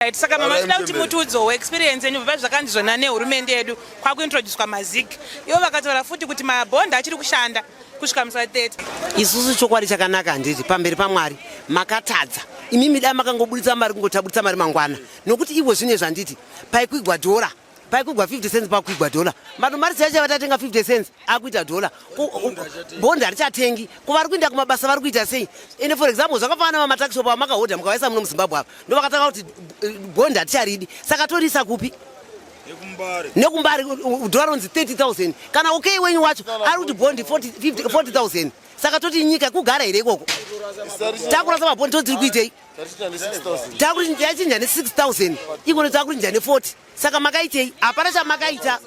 Right, saka mama tinoda kuti mutiudzewo experience yenyu bva zvakanzi zvona nehurumende yedu kwakuintroducwa mazig ivo vakataura futi kuti mabond achiri kushanda kusvika musi wa 30 isusu chokwadi chakanaka handiti pamberi pamwari makatadza imimi dai makangoburitsa mari kungoti aburitsa mari mangwana nokuti ivo zvine zvanditi paikwigwa dhora paikuigwa 50 cents pakuigwa dhola vanhu mari dzaicha vatatenga 50 cents akuita dhola bond harichatengi ko vari kuinda kumabasa vari kuita sei ende for example zvakafanana vamataxishop vamakahodha mukavaisa muno muzimbabwe ava ndovakatanga kuti eh, bond haticharidi saka toriisa kupi nekumbari dhola ronzi 30 000 kana okay wenyu wacho ari kuti bond 40 000 saka toti nyika kugara here ikoko takurasa mabhondi totiri kuitei yachinja ne 6000 ikono takurinja ne 40 saka makaitei hapana chamakaita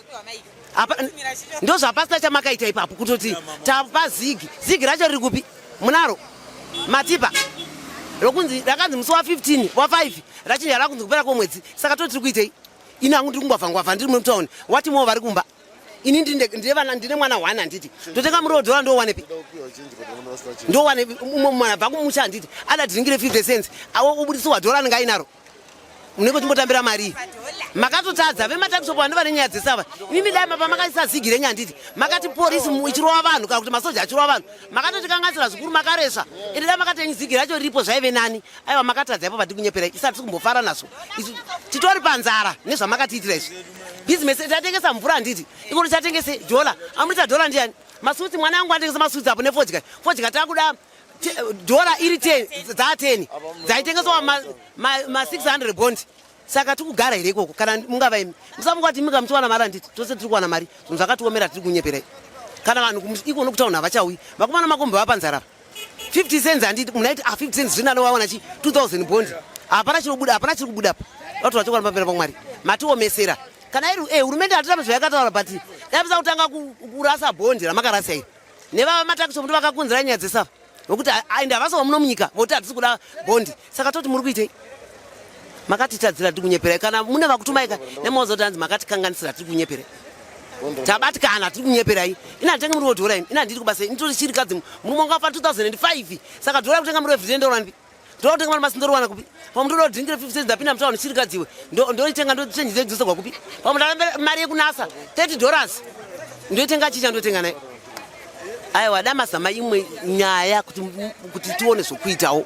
ndozvapasina chamakaita ipapo kutoti tapa zigi zigi racho riri kupi munaro matipa rokunzi rakanzi musi wa 15 wa 5 rachinja rakunzi kupera kwemwedzi saka to tiri kuitei ini hangu ndiri kungwavha ngwavha ndiri mutown wati moo vari kumba ini ndine mwana one handiti totenga muriwo dhora ndowanepi ndowanepi umwe mwana bva kumusha handiti ada dhiringire 50 cents awo ubudisiwa dhora anenge ainaro munenge uchimbotambira marii makatotadza vematakisop vano vane nyaya dzesava imimi dai mapa makaisa zigi renyu handiti makati porisi ichirova vanhu kana kuti masoja achirova vanhu makatotikanganisira zvikuru makaresva ende dai makati enyu zigi racho riripo zvaive nani aiwa makatadza ipo vatikunyeperai isa tiri kumbofara nazvo isu titori panzara nezvamakatiitira izvi bhizinesi tatengesa mvura handiti ikuti tatengese dhola amuita dhola ndiyani masutsi mwana wangu atengesa masutsi apo nefodya fodya takuda dhola iri ten dzaa ten dzaitengeswa ma6 hundred bond saka tiri kugara here ikoko kana mungava imi musafunga kuti imika muchiwana mari handiti tose tiri kuwana mari zvinhu zvakatiomera tiri kunyeperai kana vanhu ikono kutaunha vachauyi vakomana makombe vapanzara apa 50 cents handiti munaiti ah 50 cents zvino anovawana chi 2000 bond hapana chinobuda hapana chiri kubuda apa vatoda chokwadi pamberi pamwari matiomesera kana iri eh hurumende hatitame zvayakataura but yapisa kutanga kurasa bond ramakarasa iri nevava matakiso muti vakakunzira nyaya dzesava nokuti aende havasi vamuno munyika voti hatisi kuda bond saka toti muri kuitei makatitadzira tiri kunyeperai kana mune vakutumaika nemozoti hanzi makatikanganisira tiri kunyeperai tabatikana tiri kunyeperai ina nditenge muri wodhora ini ina ndiri kubasa ini tori chirikadzi murume wanga wafa 2005 saka dhora kutenga muri wevhiri ndoona ndipi ndoda kutenga mari masi ndoriwana kupi pamwe ndoda kudhiringira 50 cents ndapinda mutauni chirikadzi iwe ndoitenga ndochenji dzenyu dzosegwa kupi pamwe ndava mari yekunasa 30 dollars ndoitenga chicha ndotenga naye aiwa damazama imwe nyaya kuti tione zvokuitawo